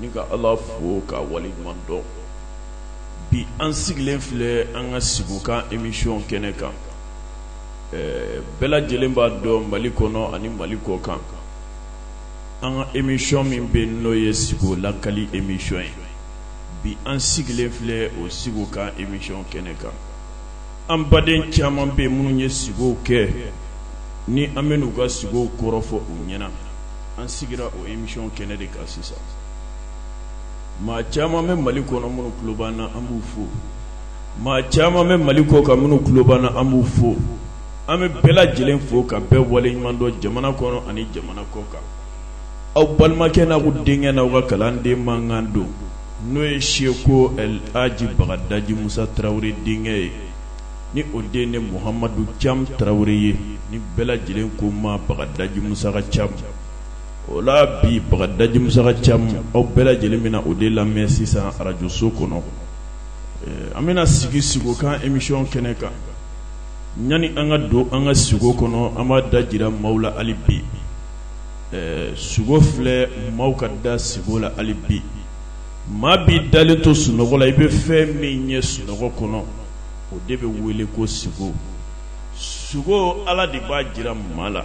ni ka ala fo k'a wale ɲuman dɔn bi an sigilen filɛ an ka sigokan emisiyɔn kɛnɛ kan bɛɛ lajɛlen b'a dɔn mali kɔnɔ ani mali kɔ kan an ka emisiyɔn min bɛ n'o ye sigo lakali emisiyɔn ye bi an sigilen filɛ o sigokan emisiyɔn kɛnɛ kan an baden caman bɛ minnu ye sugow kɛ ni an bɛn'u ka sugow kɔrɔ fɔ u ɲɛna an sigira o emisiyɔn kɛnɛ de kan sisan maa caman bɛ mali kɔnɔ minnu kulo b'an na an b'u fo maa caman bɛ mali kɔ kan minnu kulo b'an na an b'u fo an bɛ bɛɛ lajɛlen fo ka bɛɛ waleɲuman dɔn jamana kɔnɔ ani jamana kɔ kan aw balimakɛ n'aw denkɛ n'aw ka kalanden mankan don n'o ye seku alaji bagadaji musa tarawele denkɛ ye ni o de ne muhamadu cam tarawele ye ni bɛɛ lajɛlen ko n ma bagadaji musa ka cam o la bi bagadaji musa ka cam aw bɛɛ lajɛlen bɛna o de lamɛn sisan arajoso kɔnɔ an bɛna sigi sigokan emisiyɔn kɛnɛ kan ɲani an ka don an ka sigo kɔnɔ an b'a da jira maaw la hali bi sugo filɛ maaw ka da sigo la hali bi maa b'i dalen to sunɔgɔ la i bɛ fɛn min ye sunɔgɔ kɔnɔ o de bɛ wele ko sigo sugo ala de b'a jira maa la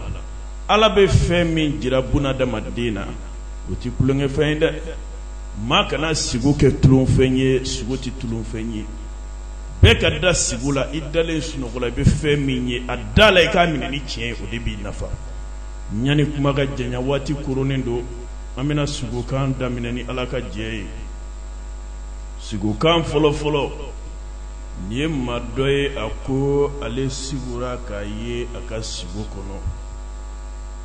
ala bɛ fɛn min jira bunadamaden na o tɛ tulonkɛfɛn ye dɛ maa kana sigo kɛ tulonfɛn ye sigo tɛ tulonfɛn ye bɛɛ ka da sigo la i dalen sunɔgɔ la i bɛ fɛn min ye a da la i k'a minɛ ni tiɲɛ o de b'i nafa ɲani kuma ka janya waati koronnen don an bɛna sugokan daminɛ ni ala ka jɛ ye sugokan fɔlɔfɔlɔ nin ye maa dɔ ye a ko ale sugora k'a ye a ka sugo kɔnɔ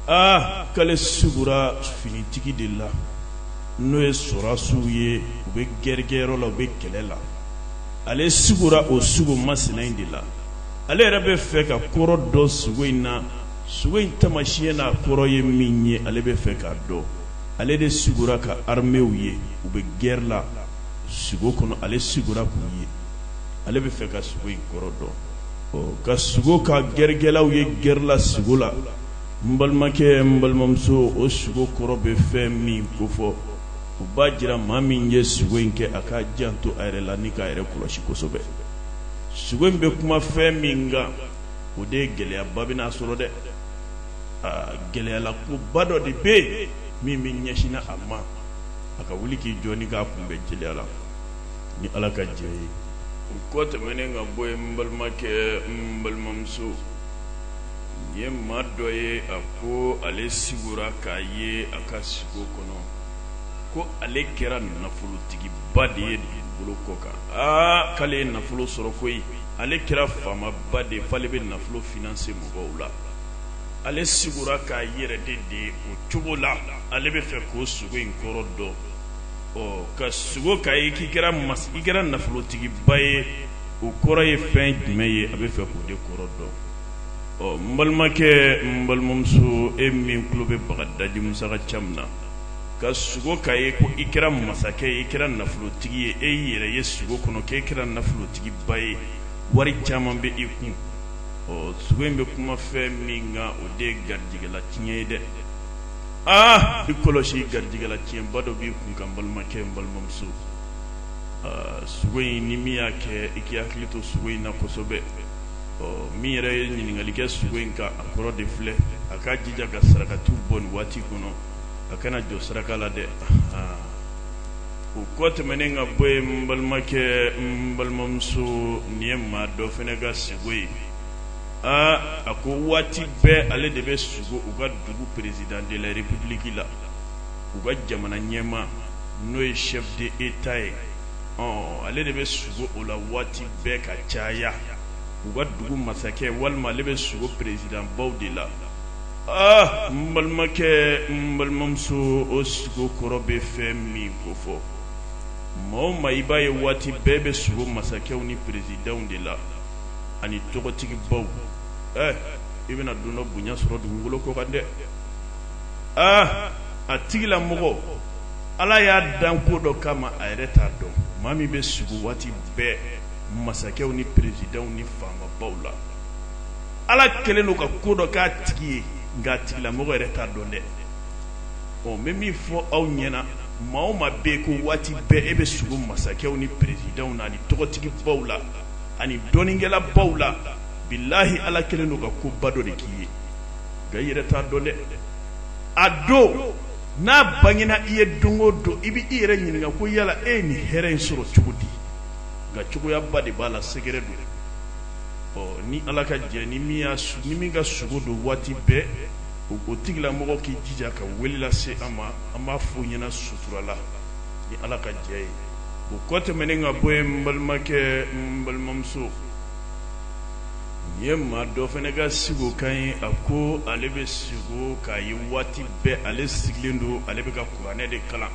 aa k'ale sugora finitigi de la n'o ye sɔrɔdasiw ye u bɛ gɛrɛkɛyɔrɔ la u bɛ kɛlɛ la ale sugora o sugo masina in de la ale yɛrɛ bɛ fɛ ka kɔrɔ dɔn sugo in na sugo in taamasiyɛn n'a kɔrɔ ye min ye ale bɛ fɛ k'a dɔn ale de sugora ka armeew ye u bɛ guerre la sugo kɔnɔ ale sugora k'u ye ale bɛ fɛ ka sugo in kɔrɔ dɔn ɔ ka sugo ka gɛrɛkɛlaw ye guerre la sugo la n balimakɛ n balimamuso o sugo kɔrɔ bɛ fɛn min kofɔ o b'a jira maa min ye sugo in kɛ a k'a janto a yɛrɛ la ni k'a yɛrɛ kɔlɔsi kosɛbɛ sugo in bɛ kuma fɛn min kan o de ye gɛlɛyaba bɛn'a sɔrɔ dɛ gɛlɛyala koba dɔ de bɛ yen min bɛ ɲɛsin a ma a ka wuli k'i jɔ k'a kunbɛn gɛlɛyala ni ala ka jɛn ye o kɔ tɛmɛnen ka bɔ ye n balimakɛ n balimamuso nin ye maa dɔ ye a ko ale sugora k'a ye a ka sugo kɔnɔ ko ale kɛra nafolotigiba de ye dugukolo kɔ kan aa k'ale ye nafolo sɔrɔ ko ye ale kɛra faamaba de f'ale bɛ nafolo finance mɔgɔw la ale sugora k'a yɛrɛ de de o cogo la ale bɛ fɛ k'o sugo in kɔrɔ dɔn ɔ ka sugo k'a ye k'i kɛra mas i kɛra nafolotigiba ye o kɔrɔ ye fɛn jumɛn ye a bɛ fɛ k'o de kɔrɔ dɔn ɔ n balimakɛ n balimamuso e min tulo bɛ bagadaji musa ka ca min na ka sugo k'a ye ko i kɛra masakɛ ye i kɛra nafolotigi ye e y'i yɛrɛ ye sugo kɔnɔ k'e kɛra nafolotigi tigiba ye wari caman bɛ i kun ɔ sugo in bɛ kuma fɛn min kan o de ye garijɛgɛ latiɲɛ ye dɛ aa i kɔlɔsi garijɛgɛ latiɲɛba dɔ b'i kun kan n balimakɛ n balimamuso sugo in ni min y'a kɛ i k'i hakili to sugo in na kosɛbɛ ɔ min yɛrɛ ye ɲininkali kɛ sugo in kan a kɔrɔ de filɛ a k'a jija ka sarakatiw bɔ nin waati kɔnɔ a kana jɔ saraka la dɛ o kɔ tɛmɛnen ka bɔ ye n balimakɛ n balimamuso nin ye maa dɔ fana ka sugo ye aa a ko waati bɛɛ ale de bɛ sugo u ka dugu président de la république la u ka jamana ɲɛmaa n'o ye chef d'état ye ɔ ale de bɛ sugo o la waati bɛɛ ka caya u ka dugu masakɛ walima ale bɛ sugo peresidanbaw de la Aa n balimakɛ n balimamuso o sugo kɔrɔ bɛ fɛn min kofɔ maa o maa i b'a ye waati bɛɛ bɛ sugo masakɛw ni peresidanw de la ani tɔgɔtigibaw ɛ i bɛna don dɔ bonya sɔrɔ dugukolo kɔ kan dɛ aa a tigilamɔgɔ ala y'a dan ko dɔ kama a yɛrɛ t'a dɔn maa min bɛ sugo waati bɛɛ masakɛw ni peresidanw ni faamabaw la ala kɛlen don ka ko dɔ k'a tigi ye nk'a tigilamɔgɔ yɛrɛ t'a dɔn dɛ ɔ n bɛ min fɔ aw ɲɛna maa o maa b'a ye ko waati bɛɛ e bɛ sugo masakɛw ni peresidanw na ani tɔgɔtigibaw la ani dɔnnikɛlabaw la bilahi ala kɛlen don ka koba dɔ de k'i ye nka i yɛrɛ t'a dɔn dɛ a don n'a bangena i ye don o don i bɛ i yɛrɛ ɲininka ko yala e ye nin hɛrɛ in sɔrɔ cogo di nka cogoyaba de b'a la secret don ɔ ni ala ka jɛ ni min y'a su- ni min ka sugo don waati bɛɛ o o tigilamɔgɔ k'i jija ka wele lase an ma an b'a fɔ o ɲɛna sutura la ni ala ka jɛ ye o kɔ tɛmɛnen ka bɔ yen n balimakɛ n balimamuso nin ye maa dɔ fana ka siko kan ye a ko ale bɛ siko k'a ye waati bɛɛ ale sigilen don ale bɛ ka kuranɛ de kalan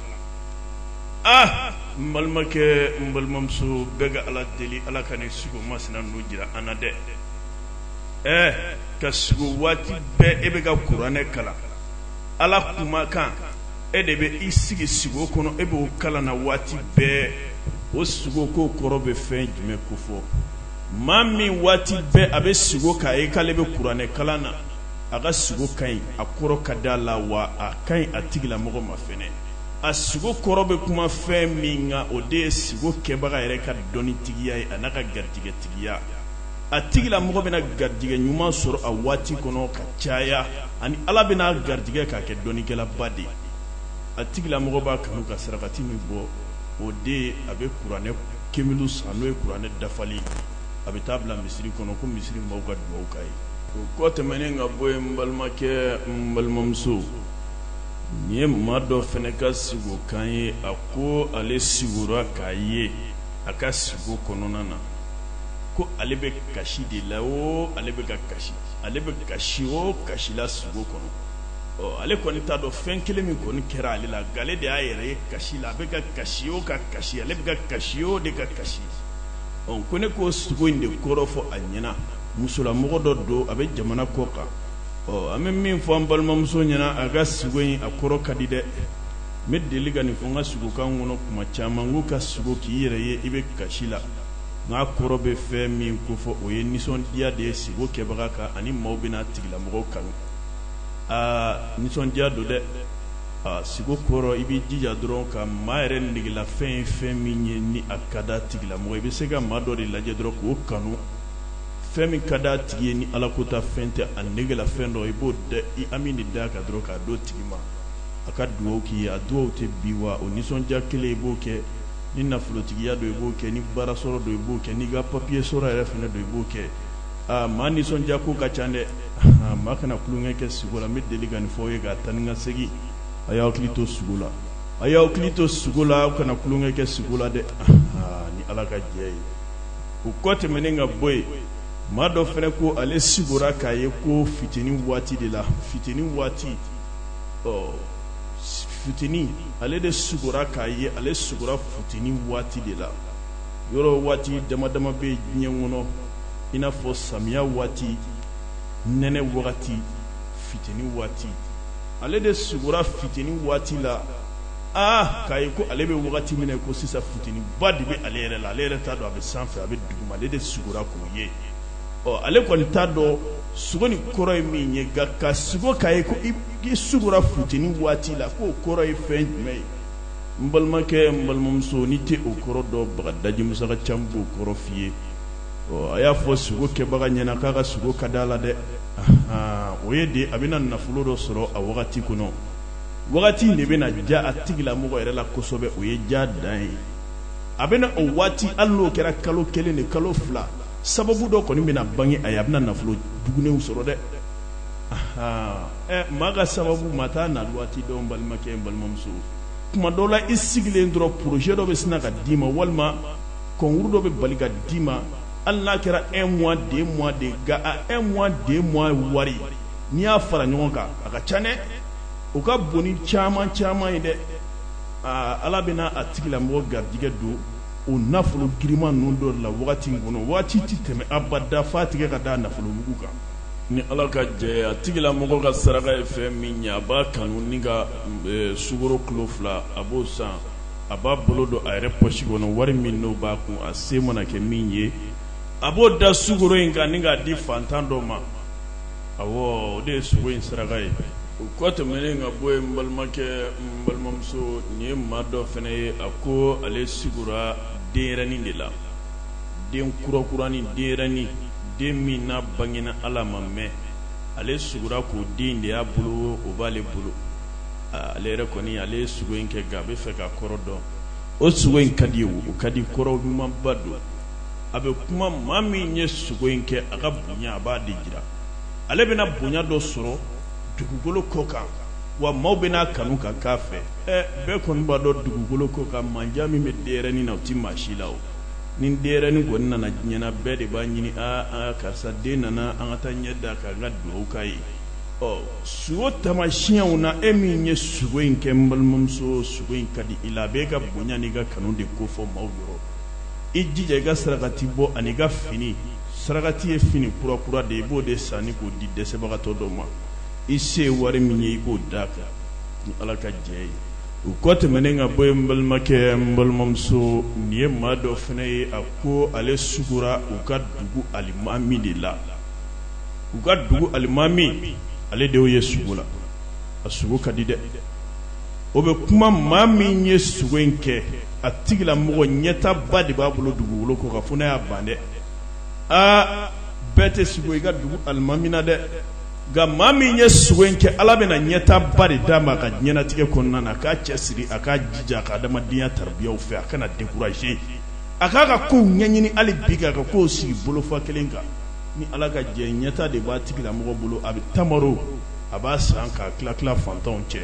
aa n balimakɛ n balimamuso bɛɛ ka ala deli ala ka nin sugo masina nu jira an na dɛ ɛɛ ka sugo waati bɛɛ e bɛ ka kuranɛ kalan ala kumakan e de bɛ i sigi sugo kɔnɔ e b'o kalan na waati bɛɛ o sugo ko kɔrɔ bɛ fɛn jumɛn kofɔ maa min waati bɛɛ a bɛ sugo k'a ye k'ale bɛ kuranɛ kalan na a ka sugo ka ɲi a kɔrɔ ka di a la wa a ka ɲi a tigilamɔgɔ ma fɛnɛ a sigo kɔrɔ bɛ kuma fɛn min kan o de ye sigo kɛbaga yɛrɛ ka dɔnnitigiya ye a n'a ka garijɛgɛtigiya a tigilamɔgɔ bɛna garijɛgɛ ɲuman sɔrɔ a waati kɔnɔ ka caya ani ala bɛna garijɛgɛ k'a kɛ dɔnnikɛlaba de ye a tigilamɔgɔ b'a kanu ka sarakati min bɔ o de ye a bɛ kuranɛ kemulu san n'o ye kuranɛ dafalen ye a bɛ taa bila misiri kɔnɔ ko misiri mɔgɔw ka dugawu k'a ye o kɔ tɛmɛnen ka bɔ yen n balimakɛ n balimamuso nin ye maa dɔ fana ka sigo kan ye a ko ale sigora k'a ye a ka sugo kɔnɔna na ko ale bɛ kasi de la o ale bɛ ka kasi ale bɛ kasi o kasi la sugo kɔnɔ ɔ ale kɔni t'a dɔn fɛn kelen min kɔni kɛra ale la nka ale de y'a yɛrɛ ye kasi la a bɛ ka kasi o ka kasi ale bɛ ka kasi o de ka kasi ɔ ko ne k'o sugo in de kɔrɔ fɔ a ɲɛna musolamɔgɔ dɔ don a bɛ jamana kɔ kan ɔ an bɛ min fɔ an balimamuso ɲɛna a ka siko in a kɔrɔ ka di dɛ n bɛ deli ka nin fɔ n ka siko kan kɔnɔ kuma caman ko ka siko k'i yɛrɛ ye i bɛ kasi la k'a kɔrɔ bɛ fɛn min kofɔ o ye nisɔndiya de ye siko kɛbaga kan ani maaw bɛna a tigilamɔgɔ kanu aa nisɔndiya don dɛ aa siko kɔrɔ i b'i jija dɔrɔn ka maa yɛrɛ negelafɛn ye fɛn min ye ni a ka d'a tigilamɔgɔ i bɛ se ka maa dɔ de lajɛ dɔrɔn k'o kanu fɛn min ka d'a tigi ye ni ala ko ta fɛn tɛ a negelafɛn dɔ i b'o i ami de da ka dɔrɔn k'a d'o tigi ma a ka dugawu k'i ye a dugawu tɛ bin wa o nisɔndiya kelen i b'o kɛ ni nafolotigiya don i b'o kɛ ni baara sɔrɔ don i b'o kɛ n'i ka papiye sɔrɔ yɛrɛ fana don i b'o kɛ aa maa nisɔndiya ko ka ca dɛ maa kana tulonkɛ kɛ sugo la n bɛ deli ka nin fɔ ye ka taa ni ka segin a y'aw hakili to sugo la a y'aw hakili to sugo la aw kana tulonkɛ kɛ sugo la dɛ ni ala ka jɛ ye o kɔ tɛmɛnen ka bɔ yen maa dɔ fana ko ale sugora k'a ye ko futeni waati de la futeni waati ɔ futeni ale de sugora k'a ye ale sugora futeni waati de la yɔrɔ waati dama dama bɛ yen diɲɛ kɔnɔ i n'a fɔ samiya waati nɛnɛ wagati futeni waati ale de sugora futeni waati la aa k'a ye ko ale bɛ wagati min ko sisan futeni ba de bɛ ale yɛrɛ la ale yɛrɛ t'a dɔn a bɛ sanfɛ a bɛ duguma ale de sugora k'o ye ɔ ale kɔni t'a dɔn sugo nin kɔrɔ ye min ye nka ka sugo k'a ye ko i sugora futeni waati la k'o kɔrɔ ye fɛn jumɛn ye n balimakɛ n balimamuso n'i tɛ o kɔrɔ dɔn bagadaji musa ka chaîne b'o kɔrɔ f'i ye ɔ a y'a fɔ sugo kɛbaga ɲɛna k'a ka sugo ka d'a la dɛ o ye de a bɛna nafolo dɔ sɔrɔ a wagati kɔnɔ wagati in de bɛna ja a tigilamɔgɔ yɛrɛ la kosɛbɛ o ye ja dan ye a bɛna o waati hali n'o kɛra kalo kelen ni kalo fila sababu dɔ kɔni bɛna bange a ye a bɛna nafolo bugunenw sɔrɔ dɛ maa ka sababu maa t'a na waati dɔn balimakɛ balimamuso tuma dɔw la i sigilen dɔrɔn projet dɔ bɛ sina ka d'i ma walima concours dɔ bɛ bali ka d'i ma hali n'a kɛra un mois deux mois de nka a un mois deux mois wari n'i y'a fara ɲɔgɔn kan a ka ca dɛ o ka bon ni caman caman ye dɛ aa ala bɛna a tigila mɔgɔ garijɛgɛ don o nafolo girinman ninnu dɔ la wagati in kɔnɔ waati tɛ tɛmɛ a ba dafa tigɛ ka da nafolobugu kan ni ala ka jɛ a tigila mɔgɔ ka saraka ye fɛn min ye a b'a kanu ni ka e, sukaro kilo fila a b'o san a b'a bolo don a yɛrɛ pɔsi kɔnɔ wari min n'o b'a kun a se mana kɛ min ye a b'o da sukaro in kan ni k'a di fantan dɔ ma awɔ o de ye sugo in saraka ye o kɔ tɛmɛnen ka bɔ yen n balimakɛ n balimamuso nin ye maa dɔ fana ye a ko ale sugora denyɛrɛnin de la den kurakuranin denyɛrɛnin den min n'a bangena hali a ma mɛn ale sugora k'o den de y'a bolo o b'ale bolo ale yɛrɛ kɔni ale ye sugo in kɛ nka a bɛ fɛ ka kɔrɔ dɔn o sugo in ka di wo o ka di kɔrɔ ɲumanba don a bɛ kuma maa min ye sugo in kɛ a ka bonya a b'a de jira ale bɛna bonya dɔ sɔrɔ dugukolo kɔ kan wa maaw bɛna a kanu ka k'a fɛ ɛ bɛɛ kɔni b'a dɔn dugukolo kɔ kan mandiya min bɛ denyɛrɛni na o tɛ maa si la o ni denyɛrɛni kɔni nana diɲɛ na bɛɛ de b'a ɲini aa aa karisa den nana an ka taa ɲɛ d'a kan ka dugawu k'a ye ɔ sugo tamasiyɛnw na e min ye sugo in kɛ n balimamuso sugo in ka di i la a b'e ka bonya n'i ka kanu de kofɔ maaw yɔrɔ i jija i ka sarakati bɔ ani ka fini sarakati ye fini kura kura de i b'o de san i k'o di dɛsɛbagatɔ dɔ ma i se ye wari min ye i k'o da kan ni ala ka jɛ ye o kɔ tɛmɛnen ka bɔ yen n balimakɛ n balimamuso nin ye maa dɔ fana ye a ko ale sugora u ka dugu alimami de la u ka dugu alimami ale de ye sugo la a sugo ka di dɛ o bɛ kuma maa min ye sugo in kɛ a tigila mɔgɔ ɲɛtaba de b'a bolo dugukolo kɔ ka fo n'a y'a ban dɛ aa bɛɛ tɛ sugo i ka dugu alimami na dɛ nka maa min ye sugo in kɛ ala bɛna ɲɛtaba de d'a ma a ka ɲɛnatigɛ kɔnɔna na a k'a cɛ siri a k'a jija a ka adamadenya tarabiyaw fɛ a kana dekuraze a k'a ka kow ɲɛɲini hali bi k'a ka kow sigi bolo fan kelen kan ni ala ka jɛ ɲɛta de b'a tigila mɔgɔ bolo a bɛ tamaro a b'a san k'a tila tila fantanw cɛ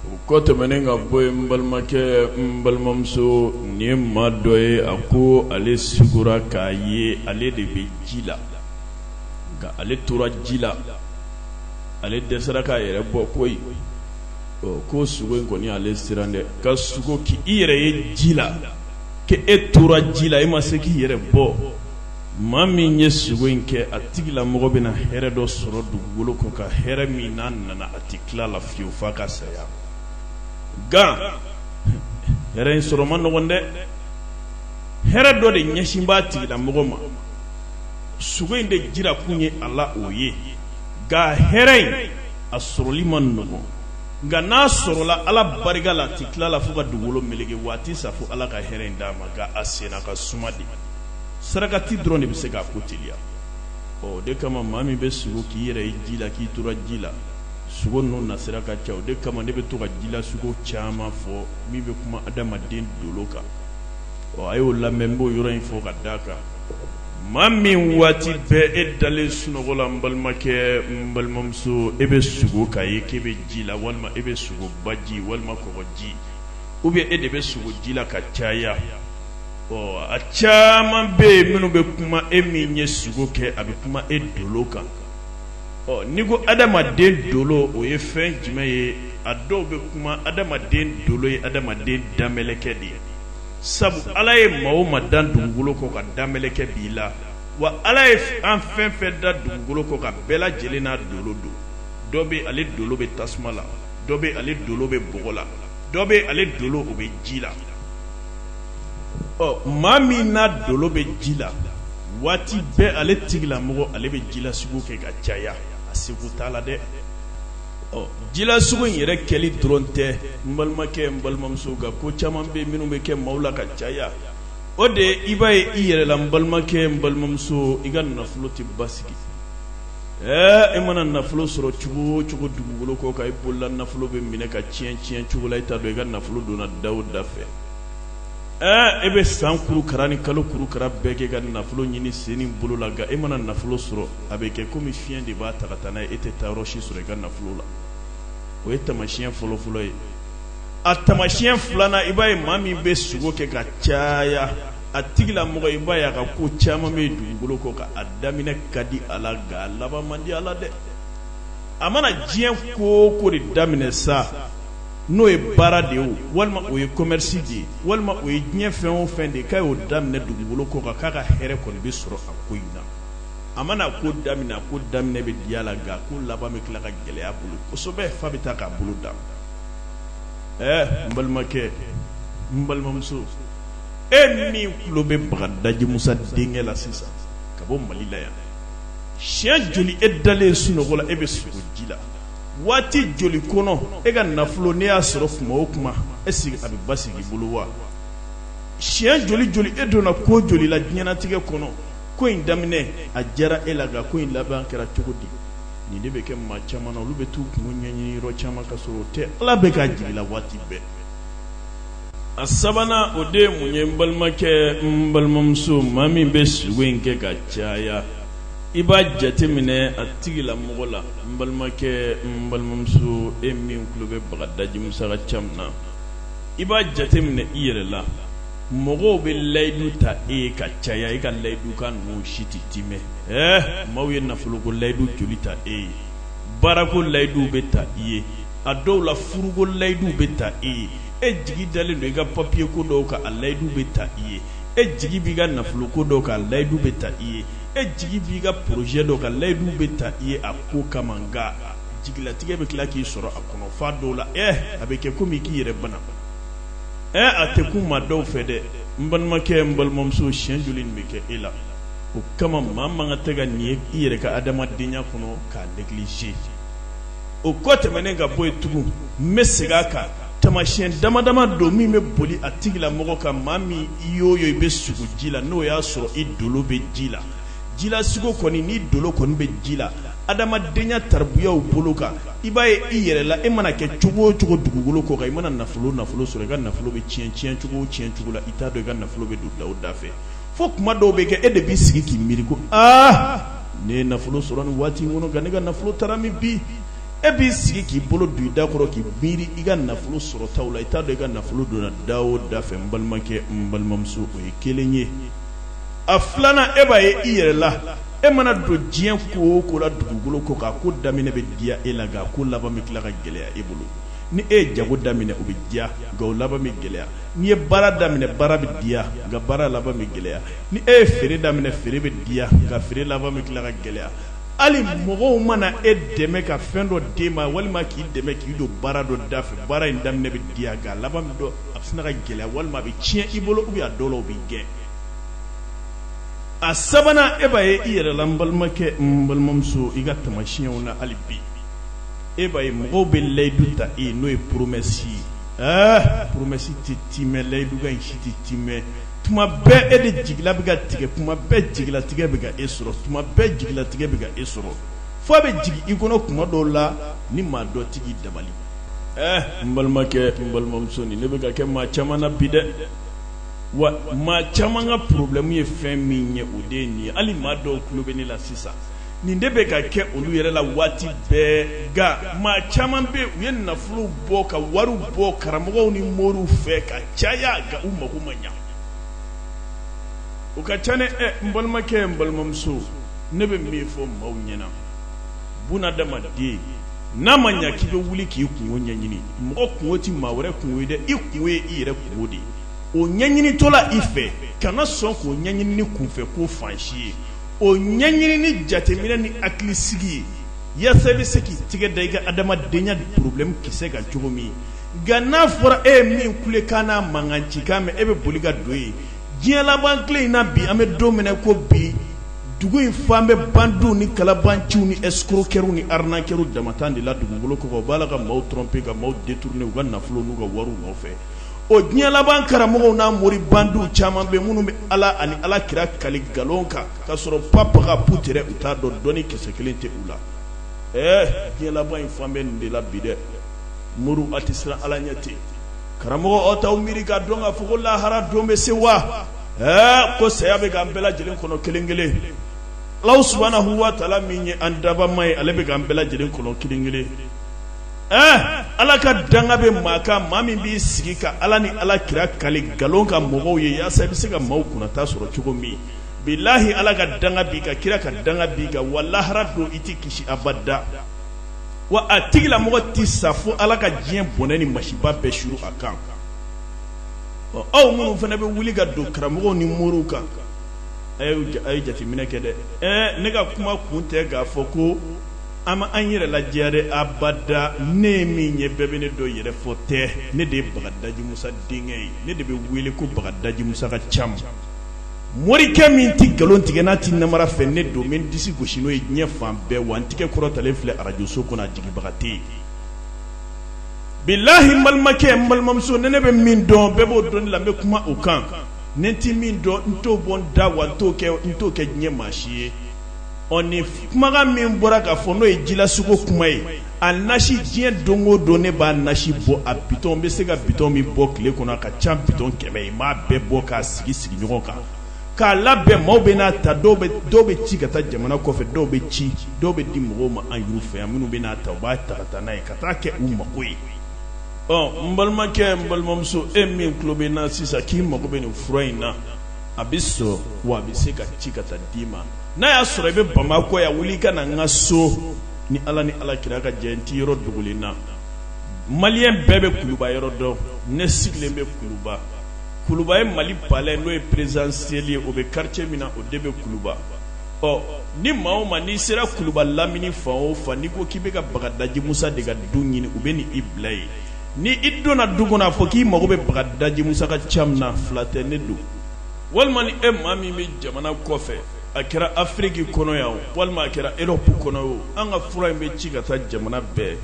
o kɔ tɛmɛnen ka bɔ yen n balimakɛ n balimamuso nin ye maa dɔ ye a ko ale sugora k'a ye ale de bɛ ji la nka ale tora ji la ale dɛsɛra k'a yɛrɛ bɔ koyi ko sugo in kɔni ale siran dɛ ka sugo k'i yɛrɛ ye ji la k'e tora ji la e ma se k'i yɛrɛ bɔ maa min ye sugo in kɛ a tigila mɔgɔ bɛna hɛrɛ dɔ sɔrɔ dugukolo kɔ ka hɛrɛ min n'a nana a tɛ tila a la fiyewu f'a ka saya nka hɛrɛ in sɔrɔ man nɔgɔn dɛ hɛrɛ dɔ de ɲɛsin b'a tigila mɔgɔ ma sugo in de jira kun ye a la o ye nka hɛrɛ in a sɔrɔli man nɔgɔn nka n'a sɔrɔla ala barika la a tɛ tila a la fo ka dugukolo meleke waati sa fo ala ka hɛrɛ in d'a ma nka a senna ka suma dɛ sarakati dɔrɔn de bɛ se k'a ko teliya o de kama maa min bɛ sugo k'i yɛrɛ ye ji la k'i tora ji la sugo ninnu nasira ka ca o de kama ne bɛ to ka ji la sugo caman fɔ min bɛ kuma adamaden dolo kan ɔ a y'o lamɛn n b'o yɔrɔ in fɔ ka d'a kan maa min waati bɛɛ e dalen sunɔgɔ la n balimakɛ n balimamuso e bɛ sugo k'a ye k'e bɛ ji la walima e bɛ sugo baji walima kɔgɔji ou bien e de bɛ sugo ji la ka caya a caman bɛ yen minnu bɛ kuma e min ye sugo kɛ a bɛ kuma e dolo kan n'i ko adamaden dolo o ye fɛn jumɛn ye a dɔw bɛ kuma adamaden dolo ye adamaden danmɛlɛkɛ de ye sabu ala ye maa o maa dan dugukolo kɔ ka danmɛlɛkɛ b'i la wa ala ye an fɛn fɛn da dugukolo kɔ ka bɛɛ lajɛlen n'a dolo don dɔ bɛ ale dolo bɛ tasuma la dɔ bɛ ale dolo bɛ bɔgɔ la dɔ bɛ ale dolo o bɛ ji la ɔ maa min n'a dolo bɛ ji la waati bɛɛ ale tigilamɔgɔ ale bɛ jila sugo kɛ ka caya a siga t'a la dɛ ɔ jila sugo in yɛrɛ kɛli dɔrɔn tɛ n balimakɛ n balimamuso nka ko caman bɛ minnu bɛ kɛ maaw la ka caya o de ye i b'a ye i yɛrɛ la n balimakɛ n balimamuso i ka nafolo tɛ basigi ɛɛ e mana nafolo sɔrɔ cogo o cogo dugukolo kɔ kan i bolola nafolo bɛ minɛ ka tiɲɛ tiɲɛ cogo la i t'a dɔn i ka nafolo donna da o da fɛ e bɛ san kuru kara ni kalo kuru kara bɛɛ kɛ ka nafolo ɲini sen ni bolo la nka e mana nafolo sɔrɔ a bɛ kɛ komi fiɲɛ de b'a ta ka taa n'a ye e tɛ taayɔrɔ si sɔrɔ i ka nafolo la o ye tamasiɲɛ fɔlɔfɔlɔ ye a tamasiɲɛ filanan i b'a ye maa min bɛ sugo kɛ ka caya a tigila mɔgɔ i b'a ye a ka ko caman bɛ dugukolo kɔ kan a daminɛ ka di a la nka a laban man di a la dɛ a mana diɲɛ ko o ko de daminɛ sa n'o ye baara de ye o walima o ye commerce de ye walima o ye diɲɛ fɛn o fɛn de ye k'a y'o daminɛ dugukolo kɔ kan k'a ka hɛrɛ kɔni bɛ sɔrɔ a ko in na a mana ko daminɛ a ko daminɛ bɛ diya la nka a ko laban bɛ tila ka gɛlɛya a bolo kosɛbɛ f'a bɛ taa k'a bolo da ɛɛ n balimakɛ n balimamuso e min tulo bɛ bagadaji musa denkɛ la sisan ka bɔ mali la yan siɲɛ joli e dalen sunɔgɔ la e bɛ sugo ji la waati joli kɔnɔ e ka nafolo n'e y'a sɔrɔ tuma o tuma est-ce que a bɛ basigi i bolo wa siɲɛ joli joli e donna ko joli la diɲɛnatigɛ kɔnɔ ko in daminɛ a diyara e la nka ko in laban kɛra cogo di nin de bɛ kɛ maa caman na olu bɛ taa u kun ɲɛɲini yɔrɔ caman ka sɔrɔ o tɛ ala bɛ ka jigin la waati bɛɛ a sabanan o de ye mun ye n balimakɛ n balimamuso maa min bɛ sugo in kɛ ka caya i b'a jate minɛ a tigila mɔgɔ la n balimakɛ n balimamuso e min tulo bɛ bagadaji musala ca min na i b'a jate minɛ i yɛrɛ la mɔgɔw bɛ layidu ta e ye ka caya e ka layidukan ninnu si tɛ timɛ ɛɛ maaw ye nafoloko layidu joli ta e ye baarako layiduw bɛ ta i ye a dɔw la furuko layiduw bɛ ta e ye e jigi dalen don i ka papiye ko dɔw kan a layidu bɛ ta i ye e jigi b'i ka nafolo ko dɔ kan layidu bɛ ta i ye e jigi b'i ka porozɛ dɔ kan layidu bɛ ta i ye a ko kama nka jigilatigɛ bɛ tila k'i sɔrɔ a kɔnɔ f'a dɔw la ɛ a bɛ kɛ komi k'i yɛrɛ bana ɛ a tɛ kun maa dɔw fɛ dɛ n balimakɛ n balimamuso siɲɛ joli nin bɛ kɛ e la o kama maa man kan tɛ ka nin ye i yɛrɛ ka adamadenya kɔnɔ k'a negliger o kɔ tɛmɛnen ka bɔ yen tugun n bɛ segin a kan tamasiyɛn dama dama don min bɛ boli a tigila mɔgɔ kan maa min i y'o ye i bɛ sugo ji la n'o y'a sɔrɔ i dolo bɛ ji la jila sugo kɔni ni dolo kɔni bɛ ji la adamadenya tarabuyaw bolo kan i b'a ye i yɛrɛ la e mana kɛ cogo o cogo dugukolo kɔ kan i mana nafolo nafolo sɔrɔ i ka nafolo bɛ tiɲɛ tiɲɛ cogo o tiɲɛ cogo la i t'a dɔn i ka nafolo bɛ don da o da fɛ fo kuma dɔw bɛ kɛ e de b'i sigi k'i miiri ko aa ne ye nafolo sɔrɔ nin waati in kɔnɔ nka ne ka nafolo taara min bi e b'i sigi k'i bolo don i da kɔrɔ k'i miiri i ka nafolo sɔrɔtaw la i t'a dɔn i ka nafolo donna da o da fɛ n balimakɛ n balimamuso o ye kelen ye a filanan e b'a ye i yɛrɛ la e mana don diɲɛ ko o ko la dugukolo kɔ kan ko daminɛ bɛ diya e la nka ko laban bɛ tila ka gɛlɛya e bolo ni e ye jago daminɛ o bɛ diya nka o laban bɛ gɛlɛya n'i ye baara daminɛ baara bɛ diya nka baara laban bɛ gɛlɛya ni e ye feere daminɛ feere bɛ diya nka feere laban bɛ tila ka gɛlɛya hali mɔgɔw mana e dɛmɛ ka fɛn dɔ d'i ma walima k'i dɛmɛ k'i don baara dɔ da fɛ baara in daminɛ bɛ diya nka laban min don a bɛ sina ka gɛlɛya walima a bɛ tiɲɛ i bolo u' dɔw la u b'i gɛn a sabanan e b'a ye i yɛrɛ la n balimakɛ n balimamuso i ka tamasiyɛnw na hali bi e b'a ye mɔgɔw bɛ layidu ta e n'o ye poromɛsi ye poromɛsi tɛ timɛ layidukan si tɛ timɛ tuma bɛɛ e de jigila bɛ ka tigɛ kuma bɛɛ jigilatigɛ bɛ ka e sɔrɔ tuma bɛɛ jigilatigɛ bɛ ka e sɔrɔ fo a bɛ jigin i kɔnɔ kuma dɔw la ni maa dɔ tɛ k'i dabali ɛɛ n balimakɛ n balimamuso nin de bɛ ka kɛ maa caman na bi dɛ wa maa caman ka porobilɛmu ye fɛn min ye o de ye nin ye hali maa dɔw tulo bɛ ne la sisan nin de bɛ ka kɛ olu yɛrɛ la waati bɛɛ nka maa caman bɛ u ye nafolo bɔ ka wari bɔ karamɔgɔw ni moriw fɛ ka caya nka u mako ma ɲa u ka ca dɛ ɛ n balimakɛ n balimamuso ne bɛ min fɔ maaw ɲɛna bunadamaden n'a ma ɲa k'i bɛ wuli k'i kungo ɲɛɲini mɔgɔ kungo tɛ maa wɛrɛ kungo ye dɛ i kungo ye i yɛrɛ kungo de ye o ɲɛɲinitɔ la i fɛ kana sɔn k'o ɲɛɲini ni kunfɛko fan si ye o ɲɛɲini ni jateminɛ ni hakili sigi ye yasa i bɛ se k'i tɛgɛ da i ka adamadenya problème kisɛ kan cogo min nka n'a fɔra e ye min kulekan n'a mankan cikan mɛn e bɛ boli ka don yen diɲɛ laban tile in na bi an bɛ don min na ko bi dugu in fan bɛ bandiw ni kalabanciw ni escroqueurw ni arnaqueurw damantan de la dugukolo kɔ kan u b'a la ka maaw tromper ka maaw détourner u ka nafolo n'u ka wariw nɔfɛ o diɲɛ laban karamɔgɔw ni mori bandiw caman bɛ minnu bɛ ala ani ala kira kali nkalon kan ka sɔrɔ pap ka p tigɛ u t'a dɔn dɔnni kisɛ kelen tɛ u la ɛɛ diɲɛ laban in fan bɛ nin de la bi dɛ moriw aw tɛ siran ala ɲɛ ten karamɔgɔw aw t'aw miiri k'a dɔn k'a fɔ lahara don bɛ se wa ɛɛ ko saya bɛ k'an bɛɛ lajɛlen kɔnɔ kelen kelen alahu subahanahu wataala min ye an dabama ye ale bɛ k'an bɛɛ lajɛlen kɔnɔ kelen kelen ala ka danga bɛ maa kan maa min b'i sigi ka ala ni ala kira kali nkalon kan mɔgɔw ye walasa i bɛ se ka maaw kunna ta sɔrɔ cogo min bilahi ala ka danga b'i kan kira ka danga b'i kan wa lahara don i tɛ kisi abada wa a tigilamɔgɔ tɛ sa fo ala ka diɲɛ bɔnɛ ni masiba bɛɛ suuru a kan ɔ aw minnu fana bɛ wuli ka don karamɔgɔw ni moriw kan a ye jateminɛ kɛ dɛ ne ka kuma kun tɛ k'a fɔ ko an b'an yɛrɛ lajɛya dɛ abada ne ye min ye bɛɛ bɛ ne dɔn yɛrɛfɔ tɛ ne de ye bagadaji musa denkɛ ye ne de bɛ wele ko bagadaji musa ka cam morikɛ min tɛ nkalon tigɛ n'a tɛ namara fɛ ne don n bɛ n disi gosi n'o ye diɲɛ fan bɛɛ wa n tigɛ kɔrɔtalen filɛ arajoso kɔnɔ a jigibaga tɛ yen bilahi n balimakɛ n balimamuso ni ne bɛ min dɔn bɛɛ b'o dɔn ne la n bɛ kuma o kan ni n tɛ min dɔn n t'o bɔ n da wa n t'o kɛ n t'o kɛ diɲɛ maa si ye ɔ ni kumakan min bɔra k'a fɔ n'o ye jilasogo kuma ye a nasi diɲɛ don o don ne b'a nasi bɔ a bitɔn n bɛ se ka bitɔn min bɔ tile kɔnɔ a ka ca ni bitɔn kɛmɛ ye n b'a bɛɛ bɔ k'a sigi sigi ɲɔgɔn kan k'a labɛn maaw bɛ n'a ta dɔw bɛ dɔw bɛ ci ka taa jamana kɔfɛ dɔw bɛ ci dɔw bɛ di mɔgɔw ma an yɛrɛ fɛ yan minnu bɛ n'a ta u b'a ta ka taa n'a ye ka taa kɛ u mago ye ɔ n balimakɛ n balimamuso e min tulo bɛ n na sisan k'i mago bɛ nin fura in na a bɛ sɔrɔ wa a bɛ se ka ci ka taa d'i ma n'a y'a sɔrɔ i bɛ bamakɔ yan wuli ka na n ka so ni ala ni ala kira ka jɛ n tɛ yɔrɔ dogolen na maliyɛn bɛɛ bɛ kuluba yɔrɔ dɔn ne sigilen bɛ kuluba kuluba ye mali palɛ n'o ye perezidansiyɛli ye o bɛ karice min na o de bɛ kuluba ɔ ni maa o maa n'i sera kuluba lamini fan o fan n'i ko k'i bɛ ka bagadaji musa de ka du ɲini u bɛ n'i bila yen Ni i donna du kɔnɔ a fɔ k'i mago bɛ bagadaji musa ka camu na fila tɛ ne don walima ni e maa min bɛ jamana kɔfɛ a kɛra afiriki kɔnɔ yan walima a kɛra erɔpu kɔnɔ yen an ka fura in bɛ ci ka taa jamana bɛɛ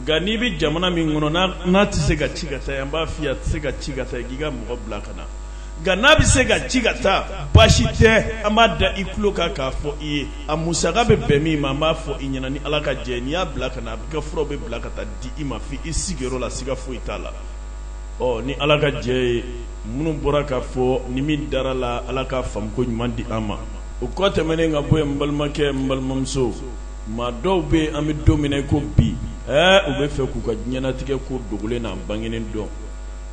nka n'i bɛ jamana min kɔnɔ n'a tɛ se ka ci ka taa an b'a fɔ i ye a tɛ se ka ci ka taa yen k'i ka mɔgɔ bila ka na nka n'a bɛ se ka ci ka taa baasi tɛ an b'a da i tulo kan k'a fɔ i ye a musaka bɛ bɛn min ma an b'a fɔ i ɲɛna ni ala ka jɛ n'i y'a bila ka na a ka fura bɛ bila ka taa di i ma fo i sigiyɔrɔ la siga foyi t'a la ɔ ni ala ka jɛ ye minnu bɔra k'a fɔ ni min dara a la ala ka faamuko ɲuman di an ma o kɔ tɛmɛnen ka bɔ yen n balimakɛ n balimamuso maa dɔw bɛ yen an bɛ don min na ko bi ɛɛ u b'a fɛ k'u ka diɲɛnatigɛ ko dogolen n'a bangenen dɔn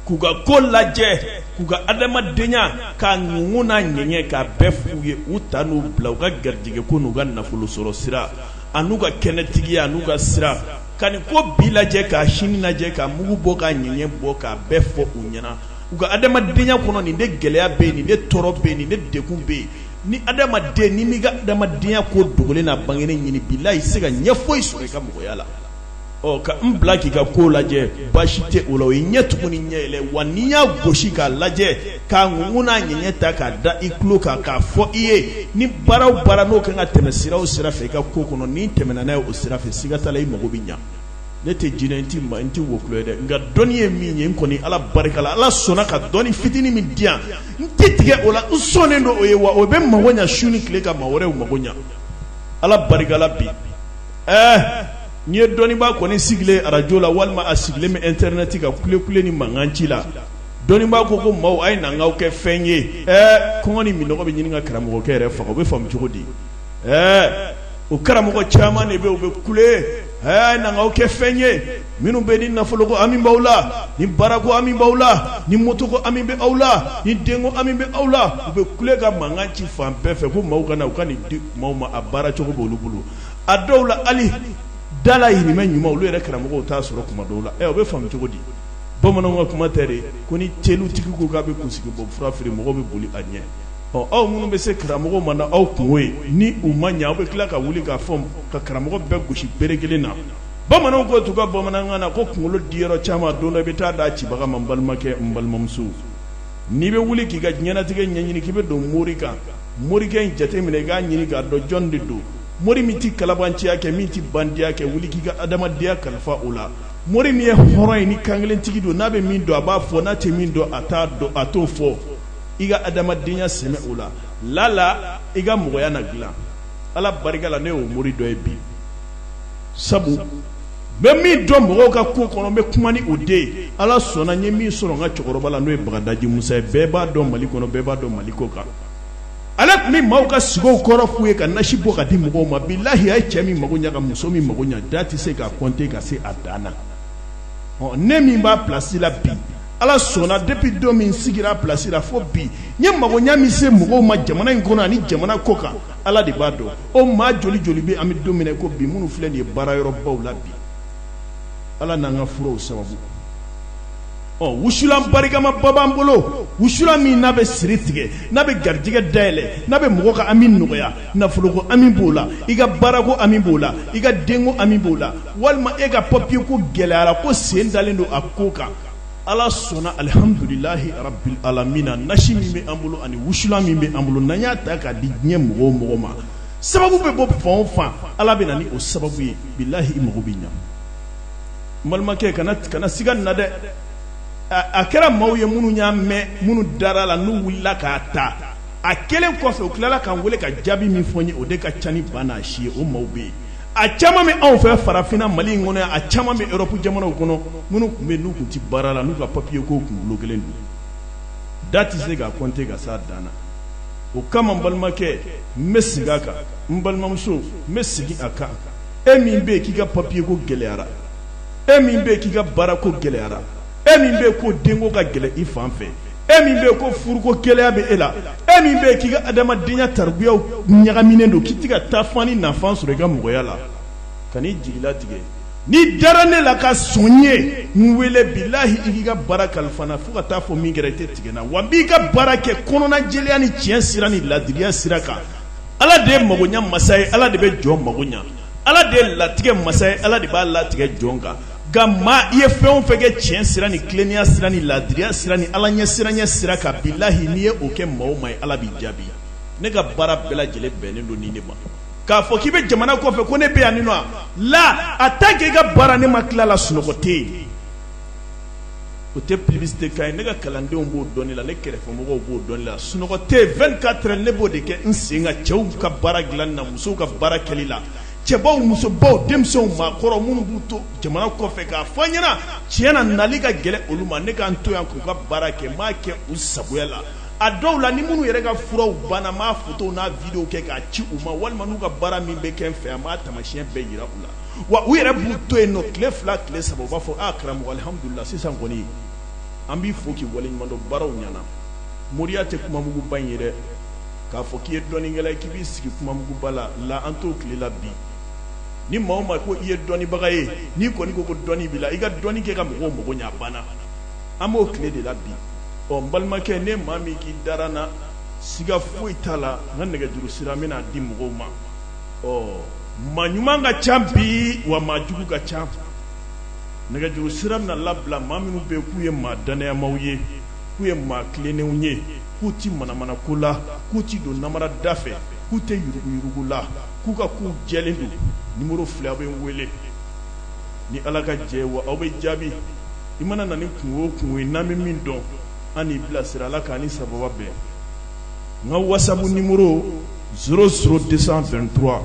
k'u ka ko lajɛ k'u ka adamadenya k'a mugu n'a ɲɛɲɛ k'a bɛɛ fɔ u ye u ta n'u bila u ka garijɛgɛ ko n'u ka nafolo sɔrɔ sira an'u ka kɛnɛtigiya n'u ka sira ka nin ko bi lajɛ k'a sini lajɛ k'a mugu bɔ k'a ɲɛɲɛ bɔ k'a bɛɛ fɔ u ɲɛna k'u ka adamadenya kɔnɔ nin de gɛlɛya bɛ yen nin de tɔɔrɔ bɛ yen nin de degun bɛ yen ni adamaden in m'i ka adamadenya ko dogolen n'a bangenen ɲini bilahi i tɛ se ka ɲɛ foyi sɔrɔ i ka mɔgɔya la bila k'i ka ko lajɛ basi tɛ o la o ye ɲɛ tugun ni ɲɛ yɛlɛ wa ni n y'a gosi k'a lajɛ k'a ŋ n'a ɲɛ ta k'a da i tulo kan k'a fɔ i ye ni baara o baara n'o ka kan ka tɛmɛ sira o sira fɛ i ka ko kɔnɔ ni n tɛmɛna n'a ye o sira fɛ siga t'a la i mago bɛ ɲɛ ne tɛ jinɛ ye n tɛ wɔkulɔ ye dɛ nka dɔnni ye min ye n kɔni ala barika la ala sɔnna ka dɔnni fitinin min di yan n tɛ tigɛ o la n sɔnnen don o ye wa o bɛ mago ɲɛ su ni tile ka mɔgɔ wɛrɛw mago ɲɛ ala barika la bi ɛɛ n'i ye dɔnniibaa kɔni sigilen arajo la walima a sigilen bɛ ɛntɛrinɛti ka kule kule ni mankan ci la dɔnniibaa ko ko maaw a ye na n k'aw kɛ fɛn ye ɛɛ kɔngɔ ni minnɔgɔ bɛ ɲini ka karamɔgɔkɛ yɛrɛ faga o bɛ faamu cogo di ɛɛ o karamɔgɔ caman de bɛ u bɛ kule a ye na n k'aw kɛ fɛn ye minnu bɛ ni nafoloko hami b'aw la ni baarako hami b'aw la ni motoko hami bɛ aw la ni denko hami bɛ aw la u bɛ kule ka mankan ci fan bɛɛ fɛ ko maaw ka na u ka nin di maaw ma a baara cogo b'olu bolo a dɔw la ali dayirimɛ ɲuman olu yɛrɛ karamɔgɔ t'a sɔrɔ kuma dɔw la ɛ o bɛ faamu cogo di bamananw ka kuma tɛ de ko ni tɛlutigi ko k'a bɛ kunsigi bɔ fura feere mɔgɔw bɛ boli a ɲɛ ɔ aw minnu bɛ se karamɔgɔ ma n'aw kunko ye ni u ma ɲɛ aw bɛ tila ka wuli k'a fɔ ka karamɔgɔ bɛɛ gosi bere kelen na bamananw ko tu ka bamanankan na ko kunkolo di yɔrɔ caman don dɔ i bɛ taa d'a cibaga ma n balimakɛ n balimamuso N'i bɛ wuli k'i ka diɲɛnatigɛ ɲɛɲini k'i bɛ don mori kan morikɛ in jate minɛ i k'a ɲini k'a dɔn jɔn de don mori min tɛ kalabanciya kɛ min tɛ bandiya kɛ wuli k'i ka adamadenya kalifa o la mori min ye hɔrɔn ye ni kankelentigi don n'a bɛ min dɔn a b'a fɔ n'a tɛ min dɔn a t'a dɔn a t'o fɔ i ka adamadenya sɛmɛ o la lala i ka mɔgɔya na dilan Ala barika la ne y'o mori dɔ ye bi sabu n bɛ min dɔn mɔgɔw ka ko kɔnɔ n bɛ kuma ni o de ala sɔnna n ye min sɔrɔ n ka cɛkɔrɔba la n'o ye bagadaji musa ye bɛɛ b'a dɔn mali kɔnɔ bɛɛ b'a dɔn mali kɔkan ale tun bɛ maaw ka sugow kɔrɔ f'u ye ka nasi bɔ k'a di mɔgɔw ma bilahi a ye cɛ min mago ɲɛ ka muso min mago ɲɛ da tɛ se k'a kɔnte ka se a dan na ɔ ne min b'a plasi la bi ala sɔnna depi don min n sigira a plasi la fo bi n ye mago ɲɛ min se mɔgɔw ma jamana in kɔnɔ ani jamana kɔkan ala de b'a dɔn o maa joli joli bɛ an bɛ don min na ko bi minnu filɛ nin ye baarayɔrɔbaw la bi ala n'an ka furaw sababu ɔ wusulan barikamaba b'an bolo wusulan min n'a bɛ siri tigɛ n'a bɛ garijɛgɛ dayɛlɛ n'a bɛ mɔgɔ ka hami nɔgɔya nafoloko hami b'o la i ka baarako hami b'o la i ka denko hami b'o la walima e ka papiye ko gɛlɛyara ko sen dalen don a ko kan ala sɔnna alihamdulilahi rabil alamina nasi min bɛ an bolo ani wusulan min bɛ an bolo n'an y'a ta k'a di diɲɛ mɔgɔ o mɔgɔ ma sababu bɛ bɔ fan o fan ala bɛ na ni o sababu ye bilahi i mago bɛ ɲa n balimakɛ a kana siga nin na dɛ a kɛra maaw ye minnu y'a mɛn minnu dara a la n'u wulila k'a ta a kɛlen kɔfɛ u tilala k'an wele ka jaabi min fɔ n ye o de ka ca ni ba n'a si ye o maaw bɛ yen a caman bɛ anw fɛ farafinna mali in kɔnɔ yan a caman bɛ erɔpu jamanaw kɔnɔ minnu tun bɛ n'u tun tɛ baara la n'u ka papiye ko tun bulokelen don da tɛ se k'a kɔnte ka s'a dan na o kama n balimakɛ n bɛ sigi a kan n balimamuso n bɛ sigi a kan e min bɛ yen k'i ka papiye ko gɛlɛyara e min bɛ k'i ka baara ko gɛlɛyara e min bɛ ko denko ka gɛlɛn i fan fɛ e min bɛ ko furuko gɛlɛya bɛ e la e min bɛ k'i ka adamadenya tabiyaw ɲagaminen don k'i tɛ ka taafan ni nafan sɔrɔ i ka mɔgɔya la kan'i jigi latigɛ n'i dara ne la ka sɔn ye n wele bilahi i k'i ka baara kalifa n na fo ka t'a fɔ min kɛra i tɛ tigɛ n na wa n b'i ka baara kɛ kɔnɔnajɛlenya ni tiɲɛ sira ni ladiriya sira kan ala de ye magoɲa masa ye ala de bɛ jɔn mago ɲa ala de ye latigɛ masa ye ala de b'a latigɛ jɔn kan nka maa i ye fɛn o fɛn kɛ tiɲɛ sira ni tilennenya sira ni laadiriya sira ni ala ɲɛsiranya sira kan bilahi n'i ye o kɛ maa o maa ye ala b'i jaabi ne ka baara bɛɛ lajɛlen bɛnnen don nin de ma k'a fɔ k'i bɛ jamana kɔfɛ ko ne bɛ yan nɔ la a ta k'i ka baara ne ma tila a la sunɔgɔ tɛ yen o tɛ publicité kan ye ne ka kalandenw b'o dɔn ne la ne kɛrɛfɛ mɔgɔw b'o dɔn ne la sunɔgɔ tɛ yen 24 heures ne b'o de kɛ n sen kan cɛw ka baara dilanni na musow ka baara kɛli la cɛbaw musobaw denmisɛnw maakɔrɔ minnu b'u to jamana kɔfɛ k'a fɔ n ɲɛ na tiɲɛ na nali ka gɛlɛn olu ma ne ka n to yan k'u ka baara kɛ n b'a kɛ u sagoya la a dɔw la ni minnu yɛrɛ ka furaw banna n b'a fotow n'a videow kɛ k'a ci u ma walima n'u ka baara min bɛ kɛ n fɛ an b'a taamasiyɛn bɛɛ yira u la wa u yɛrɛ b'u to yen nɔ tile fila tile saba u b'a fɔ a karamɔgɔ alihamudulila sisan kɔni an b'i fo k'i waleɲumandɔn baaraw ɲɛna moriya tɛ kumamuguba in ye dɛ k'a fɔ k'i ye dɔnnikɛla ye k'i b'i sigi kumamuguba la la an t'o tile la bi ni maa o maa ko i ye dɔnnibaga ye n'i kɔni ko ko dɔnni b'i la i ka dɔnni kɛ ka mɔgɔw mago ɲɛ a banna an b'o tile de la bi ɔ n balimakɛ ni maa min k'i dara n na siga foyi t'a la n ka nɛgɛjuru sira n bɛn'a di mɔgɔw ma ɔ maa ɲuman ka ca bi wa maa jugu ka ca nɛgɛjuru sira bɛna labila maa minnu bɛ yen k'u ye maa dannayamaw ye k'u ye maa tilennenw ye k'u tɛ manamana ko la k'u tɛ don namara da fɛ k'u tɛ yuruguyurugu la k'u ka kow jɛlen don nimoro filɛ aw bɛ n wele ni ala ka jɛ wa aw bɛ jaabi i mana na ni kunko o kunko ye n'an bɛ min dɔn an n'i bila sira ala k'an ni sababa bɛn n ka wasabu nimoro 00223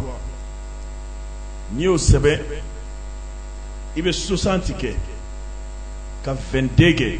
n'i y'o sɛbɛn i bɛ 60 kɛ ka 22 kɛ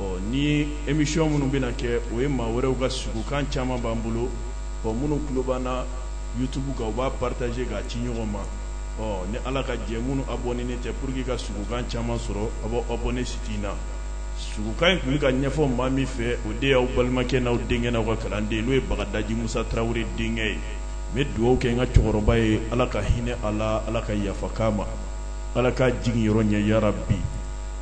ɔ ni emisiyɔn minnu bɛna kɛ o ye maa wɛrɛw ka sugukan caman b'an bolo ɔ minnu tulo b'an na yutubu kan u b'a paritaze k'a ci ɲɔgɔn ma ɔ ni ala ka jɛ minnu abɔnenen tɛ pour que ka sugukan caman sɔrɔ a b'aw abɔne siti in na sugukan in tun bɛ ka ɲɛfɔ maa min fɛ o de y'aw balimakɛ n'aw denkɛ n'aw ka kalanden n'o ye bagadaji musa tarawele denkɛ ye n bɛ dugawu kɛ n ka cɛkɔrɔba ye ala ka hinɛ a la ala ka yafa k'a ma ala k'a jigin yɔrɔ ɲɛ yarabi